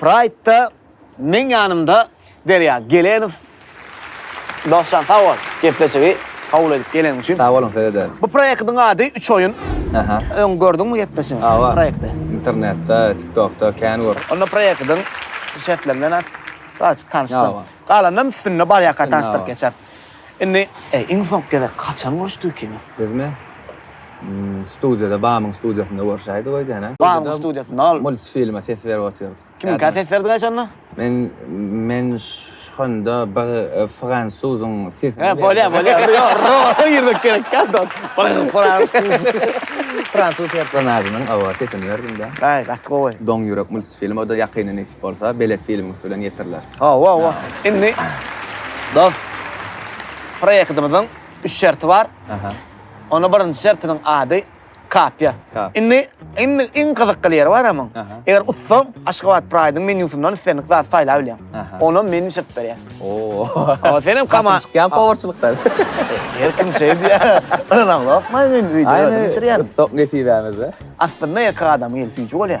Praýdda meň ýanymda Derýa Gelenow. Dostjan sag bol, gepleşigi kabul edip geleniň üçin. Sag boluň size-de. Bu proýektiň ady Üç oýun. Aha. Öň gördüňmi gepleşigi, Hawa. proýekti? Internetde, TikTokda kän gör. Onda proýektiň şertleri bilen azajyk tanyşsyn. Hawa. Galanynam üstünde barýarka tanyşdyryp geçer. Indi iň soňky gezek haçan görüşdik kino? Bizmi? Studiýada, Bamyň studiýasynda görüşäýdik öýdene. Bamyň studiýasynda ol. Multfilme ses berip otyrdyk. Kimiňkä ses berdiňä şonda? Men, men şonda bir fransuzyň sesini berdim. Bolýar, bolýar. Ýok, rowaýata girmek gerekkä onda. Bir fransuz, fransuz personažynyň, oba, sesini berdim-de. Aý, gaty gowy. Doň ýürek multfilmi, o-da ýakynda nesip bolsa, belet filmiňsi bilen ýetiriler. Hawa, hawa. Indi dost proýektimiziň üç şerti bar. Aha. Onuň birinji şertiniň ady Kapia. Kapia. Indi, indi iň gyzykly ýeri bar emma. Aha. Eger utsaň, Aşgabat Pride-yň menýusyndan islendik zat saýlap bilýäň. Aha. Onam men bişirip berýän. Oo. Ama senem kama- Başym çykýan powerçylykdan. Her kim şeý diýýär. Ynanam gorkmaýyn men, öýde özüm bişirýärin. Sok nesibämize. Aslynda erkek adamyň eli süýji bolýar.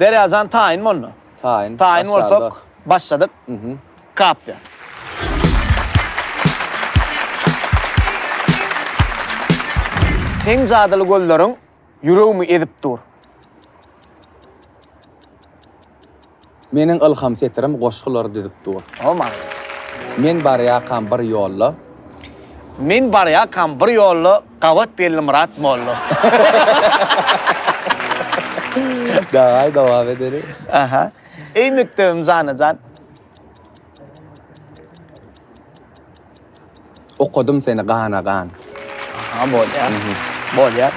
Derýajan taýyn boldy. Taýyn. Taýyn bolsak, başladyk. Kapdy. Seň jadyly gözleriň ýüregimi ezip dur. Meniň ylham setirim goşgular düzüp dur. O, malades. Men barýakam bir ýolda. Men barýakam bir ýolda. Gabat geldi Myrat molla. Daway dowam edeli. Aha. Eý mekdebim janajan. Okadym seni gana gan. Aha bolya. Bolya.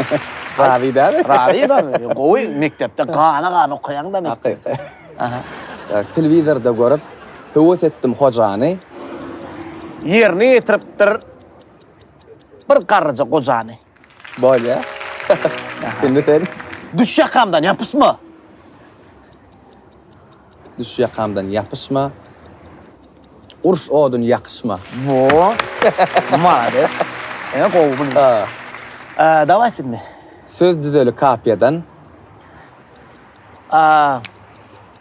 Razy däl. Razy däl. Gowy mekdepde gana gan okaýaň da mekdepde. Aha. Telewizorda görüp höwes etdim hojany. Ýerine ýetiripdir. Bir garryja gojany. Bolýa. Indi sen. Düş ýakamdan ýapyşma. Düş ýakamdan ýapyşma. Urş odun ýakyşma. Wo. Malades. Ene gowy bu. Ha. Eee, dawaý şimdi. Söz düzeli kapiýadan. Aa.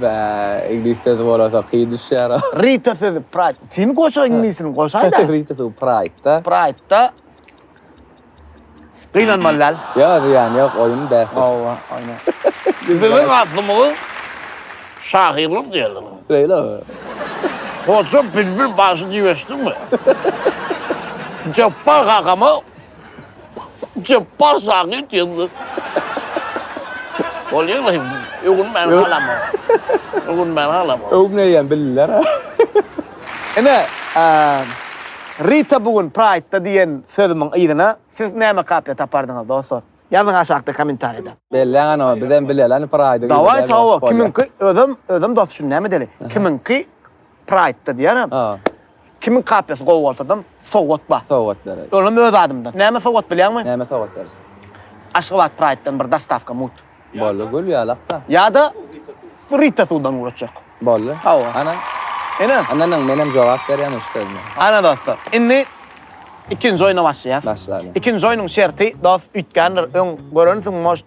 Bä, iňlis sözi bolasa kyn düşýär-ä. Rita sözi pride. Sen goşa iňlisini goşaý-da. Rita sözi pride-da. Pride-da. Gynanmaly däl. Ýok, zyýany ýok, oýun bäsleşik. Hawa, aýna. Biziň aslymyzy şahyrlyk diýerler. Şeýlemi? Hoja bilbil bagşy diýip eşitdiňmi? Jepbar kakama Jepbar Sagyt ýyldyz. Bolýar hem. Öwünmän galama. Öwünmän galama. Öwmeýän bildiler. Ine, Rita bu gün Pride-da diýen sözümiň yzyna siz näme kapyýa tapardyňyz dostlar? Ýazyň aşakda kommentariýada. Belläň anow bizem bileleni Pride-y. Dawaý sawa kimiňki özem özem dos şuny näme edeli? Kimiňki Pride-da diýenem. Kimiň kapiýasy gowy bolsadam, sowgat bar. Sowgat beräýdi. Olam öz adymdan. Näme sowgat bilýäňmi? Näme sowgat berjek? Aşgabat Praýddan bir dostawka mut. Boldy, gül ýalakda. Ýa-da Rita suwdan ugraçjak. Boldy. Hawa. Ana. Ine. Ynha nyň, menem jogap berýän üç sözüme. Ana dostlar, indi ikinji oýna başlaýas. Başlalyň. Ikinji oýnuň şerti, dost, üýtgändir, öň görensiň, может,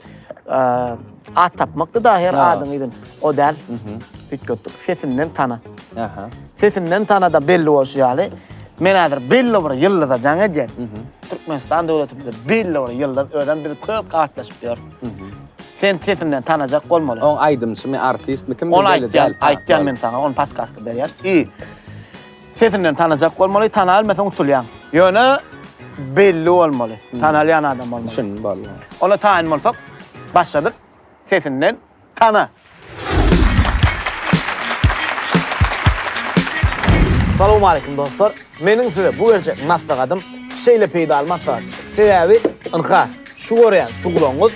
At tapmakdy da her adyň yzyn. O däl. Üýtgetdik. Sesinden tana. Aha. Sesinden tanada belli bolşy ýaly. Men häzir belli bir ýyldyza jaň edýän. Türkmenistan döwletimizde belli bir ýyldyz özem biz köp gatnaşyp ýörüs. Sen sesinden tanajak bolmaly. Oň aýdymçymy, artistmi, kimdigini belli däl. Ony aýtýan, aýtýan men saňa, ony paskaska berýän. I. Sesinden tanajak bolmaly, tanabilmese unutulýaň. Ýöne belli bolmaly, tanalýan adam bolmaly. Düşündim bally. Onda taýyn bolsak, başladyk. Sesinden tana. Salowmaleýkim dostlar. Meniň size bu berjek maslahatym şeýle peýdaly maslahat. Sebäbi ynha şu görýän sugulaňyz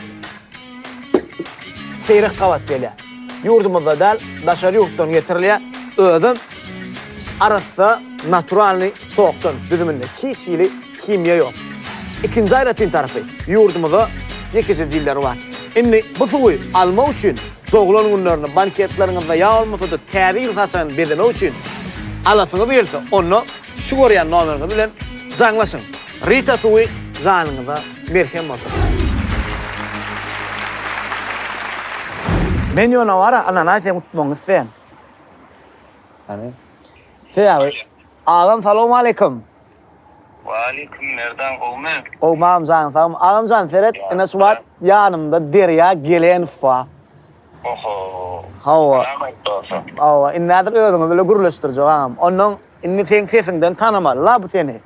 Seýrek gabat gelýär. Ýurdumyzda däl, daşary ýurtdan getirilýär. Özem arassa naturalnyý sokdan düzüminde hiç hili himiýa ýok. Ikinji aýratyn tarapy, ýurdumyzda ýekeje dilleri bar. Indi bu suwy almak üçin doglan günlerinde, banketleriňizde ýa bolmasa-da täze ýyl saçagyny bezemek üçin alasyňyz gelse, onda şu görýän nomeriňiz bilen jaňlaşyň. Rita suwy janyňyza merhem bolsun. Men ýöne bara ananasem utmagyny isleýän. Hany? Sebäbi Agam salowmaleýkum. Waleýkum Merdan gowmy? Gowmy agam janyň sagmy? Agamjan seret ine şu wagt ýanymda Derýa Gelenow bar. Oho. Hawa. Salam aýt dogsa. Hawa indi häzir özüňi bile gürleşdirjek agam. Onnoň indi seň sesiňden tanamaly la bu seni.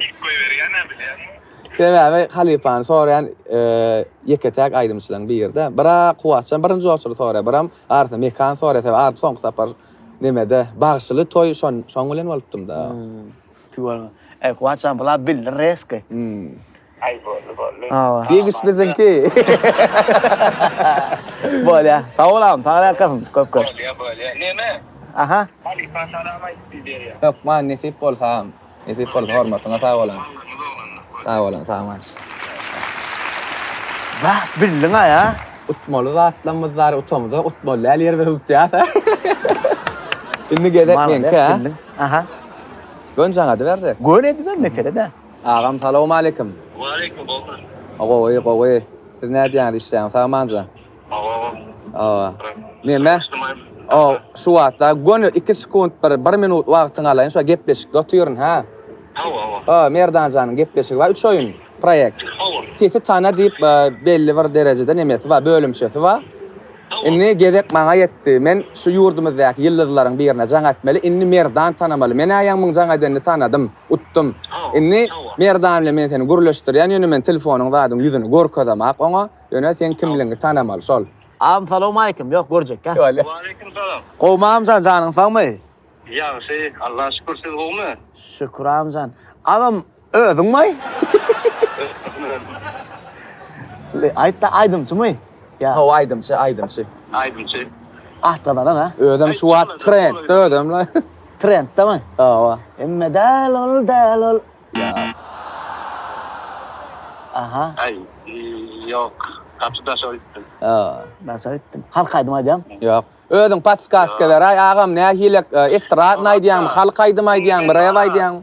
Dik goýberýän-ä bilýäňmi? Sebäbi halypany soraýan ýeke-täk aýdymçylaryň biri-de. Bira Kuwwatjan birinji oçurdy soraýar, biram artynda Mekan soraýar. Sebäbi Arif soňky sapar nämede, bagşyly toý şoň, şoň bilen bolupdym-da. Tüweleme. Eý, Kuwwatjan, bular bildi reski. Aý boldy boldy. Gigiş biziňki. Bolýa. Sag bol agam saňa ýalkasyn köp köp. Bolýa bolýa. Neme? Aha. Halypa salam aýdyp biberýa. Hökman nesip bolsa agam. Nesip bolsa hormatyňa sag bol agam. Sag bol agam sagmaş. Bah bildiňaý a. Utmaly zatlamyz bar utamyza utmaly däl ýerimizi tutýas a. Indi gezek meňki a. Aha. Gönc aňa ediberjek. Gön ediber mesele däl. Agam salowmaleýkim. Waleýkim gowmy. Gowy gowy siz nädýäňiz işleýäňiz sagmanja. Gowy agam. Hawa. Neme şu wagtda göni iki sekunt bir bir minut wagtyňy alaýyn şo gepleşikde otyryn ha. Hawa hawa. Hawa Merdanjanyň gepleşigi bar üç oýun proýekt. Hawa. Sesi tana diýip belli bir derejede nemesi bar bölümçesi bar. Indi gezek maňa ýetdi. Men şu ýurdumyzdaky ýyldyzlaryň birine jaň ätmeli. Indi Merdan tanamaly. Men-ä ýaňmyň jaň ädenini tanadym. Utdum. Indi Merdan bilen men seni gürleşdirýän, ýöne men telefonyň zadyň ýüzüni görkezemak oňa. Ýöne seň kimligiňi tanamaly. Şol. Agam salowmaleýkim. Ýok, görjekkä. Waleýkim salam. Gowmy agamjan, janyň sagmy? Ýagşy, Allaha şükür. Siz gowmy? Şükür agamjan. Agam, Özüňmi? Aýtda aýdymçymy? Ýa. Hawa aýdymçy, aýdymçy. Aýdymçy. At gazanan ha. Özem şu wagt trendde özem la. Trenddemi? Hawa. Emme däl ol, däl ol. Aha. Aý, ýok. Gaty daşa gitdim. Daşa gitdim. Halk aýdymy aýdýam? Ýok. Özüň podskaska beraý agam nähili estradny aýdýaňmy, halk aýdymy aýdýaňmy, rep aýdýaňmy?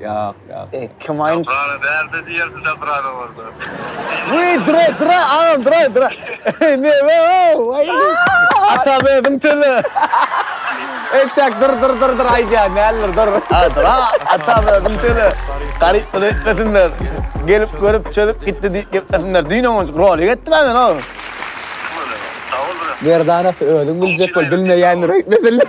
Ýok, ýok. E, kim aýn? Şaprana bärde diýersiň şaprana bolsa. Wiý, dura, dura, agam, dura, dura. Neme ow, waý. Atam özüň töle. Entäk dur, dur, dur, dur aýdýan däldir, dur. A, dura, atam özüň töle. Garyp bolup etmesinler. Gelip görüp çözüp gitdi diýip geplesinler. Düýn onunjyk rolik etdim-ä men ow. Merdana özüň biljek bol, bilmeýändir öýtmesinler.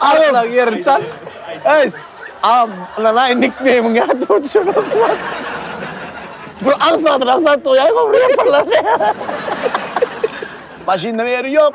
Aglak ýerini çal. Eý, am, lan aý nikneýmiň ýatda uçurum. Bu aňsat, aňsat doýaýma bir ýaparlar. Maşynda ýeri ýok.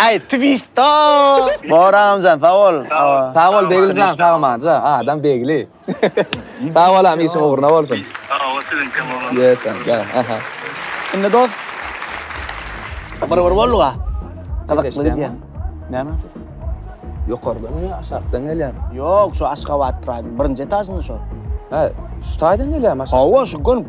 Aý twista. Bor agamjan sag bol. Sag bol Begiljan sag maňja adam Begli. Sag bol agam işiň ugruna bolsun. Sag bol siziňkem bolsun. Ýe sen de aha. Indi dos. Bir bir bolduga. Gyzykly gidýär. Näme ses? Ýokardan ýa aşakdan gelýär? Ýok şu Aşgabat Pride birinji etažynda şu. He şu taýdan gelýärmi aşak? Hawa şu gün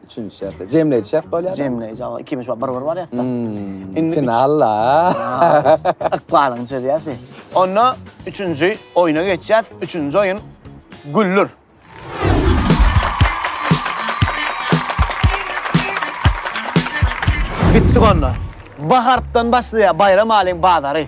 Üçünji şertde. Jemleýji şert bolýar. Jemleýji, awa, ikimiz şu bir-bir barýasda. Hmm, Indi üç- finalla. Aa, Ykbalyň çözýäsi. Onda üçünji oýna geçýäs. Üçünji oýun güllür. Gitdik onda. Bahartdan başlaýar Baýram alyň bazary.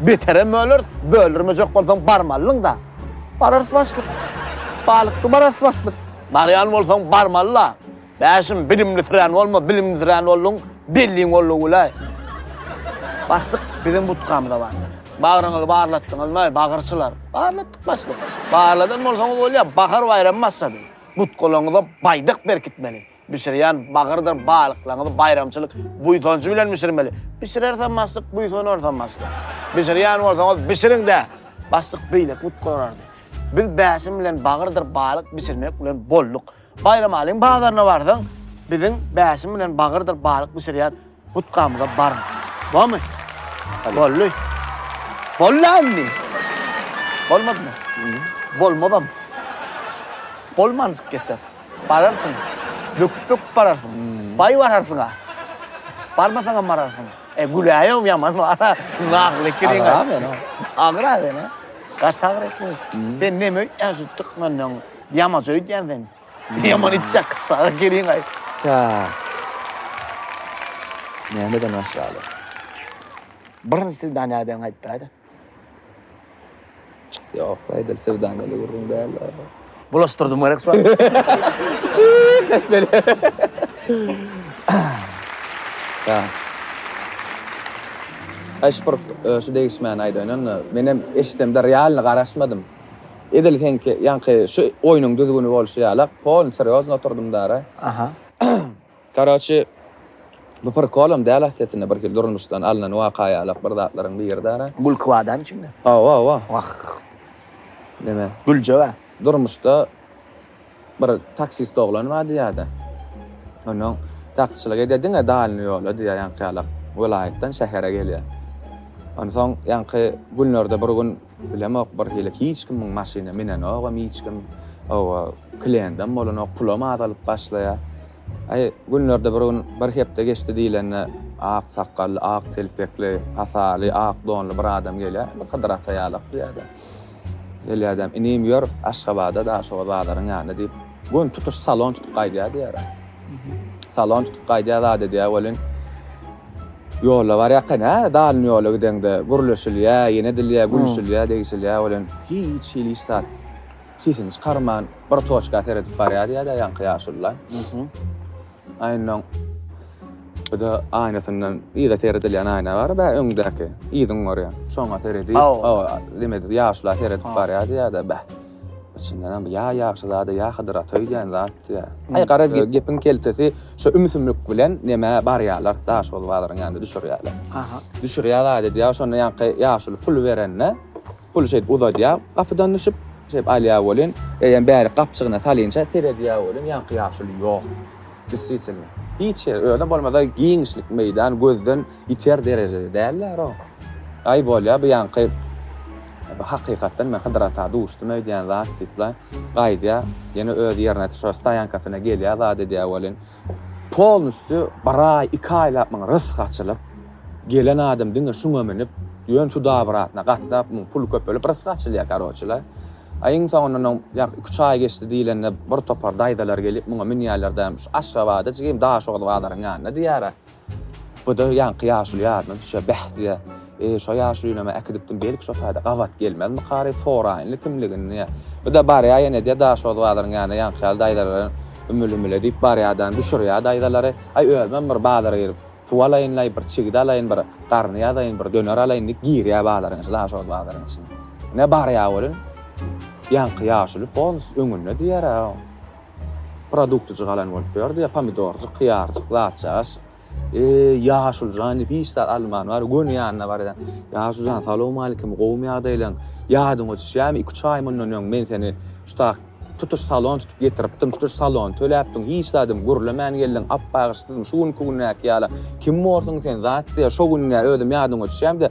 Beterem böleris, böldürmejek bolsaň barmalyň-da. Bararys başlyk. Balykdy bararys başlyk. Barýan bolsaň barmaly-la. Bäşim, bilimlisirän bolma, bilimlisirän bolduň, belliň gollugy güläý. Başlyk, biziň budkamyz-a bar. Bagryňyzy barlatdyňyzmy, bagyrçylar? Barlatdyk başlyk. Barladan bolsaňyz bolýar, bahar baýramy başlady. Budkalaryňyza baýdak berkitmeli. Bişirýän bagyrdyr balyklaňyzy baýramçylyk buýsanjy bilen bişirmeli. Bişirersem bassyk, buýsanarsam bassyk. Bişirýän bolsaňyz bişiriň-dä! Bassyk beýleki but gorardy. Biz Bäşim bilen bagyrdyr balyk bişirmek bilen bolduk. Baýramalyň bazaryna barsaň, biziň Bäşim bilen bagyrdyr balyk bişirýän Utgamyza baryň. Bormy? Boldy. Boldy indi. Bolmadymy? Bolmazam. Bolmanjyk geçer. Bararsyň. Böküp-böküp bararsyň. Baý bararsyň-a. Barmasaňam bararsyň. E, güläýem ýaman bar-a. Nagly kiriň. Agyra meni. Agyra meni. Gaty agyra kiriň. Sen neme öýtýän şu tykmynyň? Ýamaç öýdýän sen. Ne yaman itjak saga geliň ay. Tak. Nämeden başlaly? Birinji söwda näden aýdyp biläýda? Ýok, aýdyl söwda meli gürrüň däl. Bulaşdyrdym gerek sual. Tak. Aýşpurk, şu degişmäni aýdaýyn onda. Men hem eşidemde realny garaşmadym. Edil seňki ýaňky şu oýnuň düzgüni bolşy ýalak, polny serýozny oturdym dara. Aha. Karoçi, bu prikolam däl aslysynda birhili durmuşdan alnan waka ýalak bir zatlaryň biri dara. Gülki bar dämi içinde? Hawa, hawa. Wah. Neme? Güljek a. Durmuşda bir taksist oglan bar diýýärdi. Onnoň taksiçilik edýär diňe dalny ýola diýýär ýaňky ýalak. Welaýatdan şähere gelýär. Onsoň ýaňky günlerde bir gün Bilemok bir hili hiç kimiň maşyna minenogam hiç kim oba klendem bolanok pulam azalyp başlaýa aý günlerde bir gün bir hepde geçdi diýlende ak sakgally ak telpekli hasaly ak donly bir adam gelýä bir hydyr ata ýalak diýýädä gelýädäm inim ýör aşgabada daşoguz bazaryň ýanyna diýip Gün tutuş salon tutup gaýdýar diýýärä. Salon tutup gaýdýar zat edýär welin, ýola barýarka nä dalin ýola gideňde gürleşilýär, ýene edilýär, gülüşilýär, degişilýär welin, hiç hili hiç zat sesini çykarman bir toçka seredip barýar diýýär-de ýaňky ýaşulylar. Aýnaň bu-da aýnasyndan yza seredilýän aýna bar, bä öňdäki, yzyňy görýän. Şoňa seredip, hawa, diýmedi, ýaşulylar seredip barýar diýýär-de, bäh. Içindenem ýa ýagşy zada ýa Hydyr ata öýdýän zatdy ýa. Aý gara gepiň keltesi şo ümsümlik bilen nemä barýalar Daşoguz bazaryň ýanynda düşürýäler. Aha. Düşürýär zat edýär şonda ýaňky ýaşuly pul berende puly şeýdip uzadýar gapydan düşüp şeýdip alýar welin eýýäm bärik gapjygyna salynça seredýär welin ýaňky ýaşuly ýok. Desisitline. Hiç ýeri özem bolmasa giňişlik meýdan gözden Ýiter derejede däldir o. Aý bolýa bu ýaňky hakykatdan men Hydyr ata duşdum öýdýän zat diýipla gaýdýa ýene öz ýerine şu stoýankasyna gelýä zat edýä welin polnusty bir aý iki aýlap muň rysky açylyp gelen adam diňe şuňa münüp ýön tudabratyna gatnap muň puly köpelip rysky açylýa karoçila aý iň soňundan oň ýak iki üç aý geçdi diýlende bir topar daýzalar gelip muňa münýäler däm şu aşgabada jigim daşoguz bazaryň ýanyna diýýära. Bu-da ýaňky ýaşuly ýadyna düşýär. Bäh, diýýär, Eý, şo ýaşulyny-ä äkidipdim, belki, şo taýda gabat gelmezmikary, soraýynly kimligini, diýýär. Bu-da barýar ýene, diýýär, daş ozbazaryň ýanyna, ýaňky ýaly daýzalaram ümül-ümüle diýip barýar-da, düşürýär daýzalary, Aý, özümem bir bazara girip, suw alaýyn-laý, bir çigit alaýyn, bir garny ýazaýyn, bir döner alaýyn, diýip, girýär bazaryň içine, daş ozbazaryň içine. Ine, barýar welin, ýaňky ýaşuly polnusy öňünde, diýýär-ä, Produktyjy galan bolup ýördi ýa pomidorjyk, hyýarjyk, zatjagaş. Eý, ýaşuly jan diýip hiç zat alman bar, göni ýanyna barýan. Ýaşuly jan, salowmalikim, gowumy ýagdaýlaň? Ýadyňa düşýämi, iki-üç aý mundan öň men seni şutak tutuş salon tutup getiripdim, tutuş salony töläpdiň, hiç zadym gürlemän geldiň, ap-bagyşdyň, şu günki gündäki ýala kim borsuň sen, zat diýýär, şo gün-ä özüm ýadyňa düşýäm-de,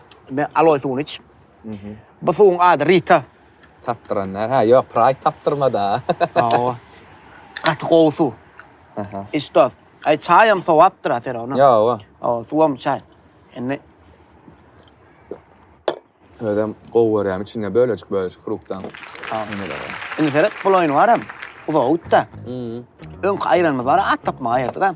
Men aloe suwuny iç. Bu suwuň ady Rita. Tapdyran da. Ha, ýok, Pride tapdyrma-da. Hawa. Gaty gowy suw. Aha. Iç dost. Aý, çaýam sowapdyr a Ferona. Ýowa. Hawa, suwam çaý. Indi Özem gowy görýän içinde bölejik-bölejik fruktdan. Indi seret, bul oýny baram. Uzaga gitdi. Öňki aýranymyz bar, at tapmaga aýyrdyk-a.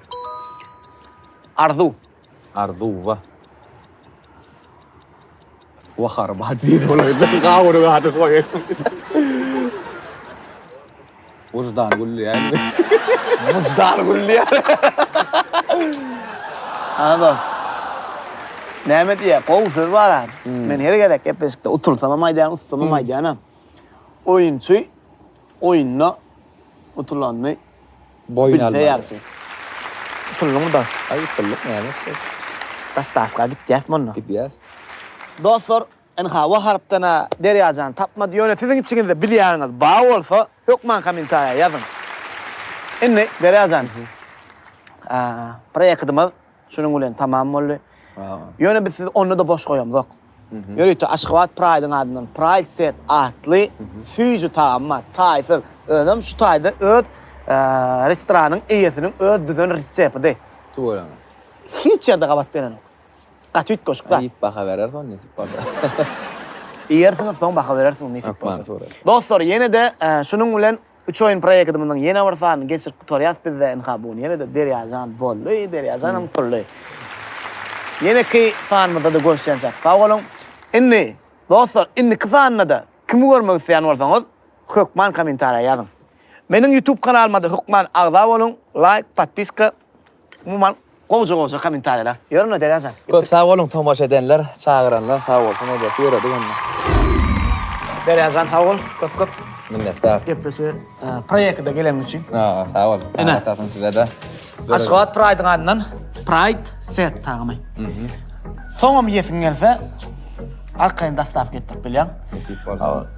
Arzuw. Arzuw wa. Wa harbat diýen bolaýda gawuny gaty goýaýdym. Wyždan gülýär. Wyždan gülýär. Anam. Näme diýýär? Gowy söz bar a. Men her gezek gepleşikde utursam hem aýdýan, utsam hem aýdýanam. Oýunçy oýunda utulanyny boýun almaly. Bilse ýagşy. Utuldyňmy-da? Aý, utuldyk, näme etjek? Dostawka gitýäsmi onda? Gidýäs. Dostlar, ynha, bu harpdan-a Derýajan tapmady, ýöne siziň içiňizde bilýäniňiz bar bolsa, hökman kommentariýa ýazyň. Indi, Derýajan, proýektimiz. Şunuň bilen tamam boldy. Ýöne biz sizi onda-da boş goýamzok. Ýörite Aşgabat Pride-iň adyndan Pride Set atly süýji tagam bar. Taýsyz. Özem şu taýda öz restoranyň eýesiniň öz düzen resepidi. Tüweleme. Hiç ýerde gabat gelenok. Gaty üýtgeşik zat. Iýip baha bereris ony nesip bolsa. Iýersiňiz, soň baha bereris nesip bolsa. Hökman. Dostlar, ýene-de şunuň bilen Üç oýun proýekidimiziň ýene bir sanyny geçirip gutarýas bizde ynha bugun ýene-de Derýajan boldy Derýajanam utuldy. Ýeneki sanymyzda-da görüşýänçäk sag boluň. Indi dostlar indiki sanynada kimi görmek isleýän bolsaňyz hökman kommentariýa ýazyň. Meniň ýutub kanalyma-da hökman agza boluň laýk, podpiska Umuman gowja gowja komentariýalar. Ýörün Derýajan. Köp sag boluň tomaşa edenler, çagyranlar sag bolsun edesi ýöredi onda. Derýajan sag bol köp köp. Minnetdar. Gepleşige proýekide geleniň üçin. Haa sag bol. Ene. Sag bolsun sizede. Aşgabat Pride-yň adyndan Pride set taýynlaý. Soňam ýesiň gelse arkaýyn dostawka etdirip bilýäň. Nesip bolsa.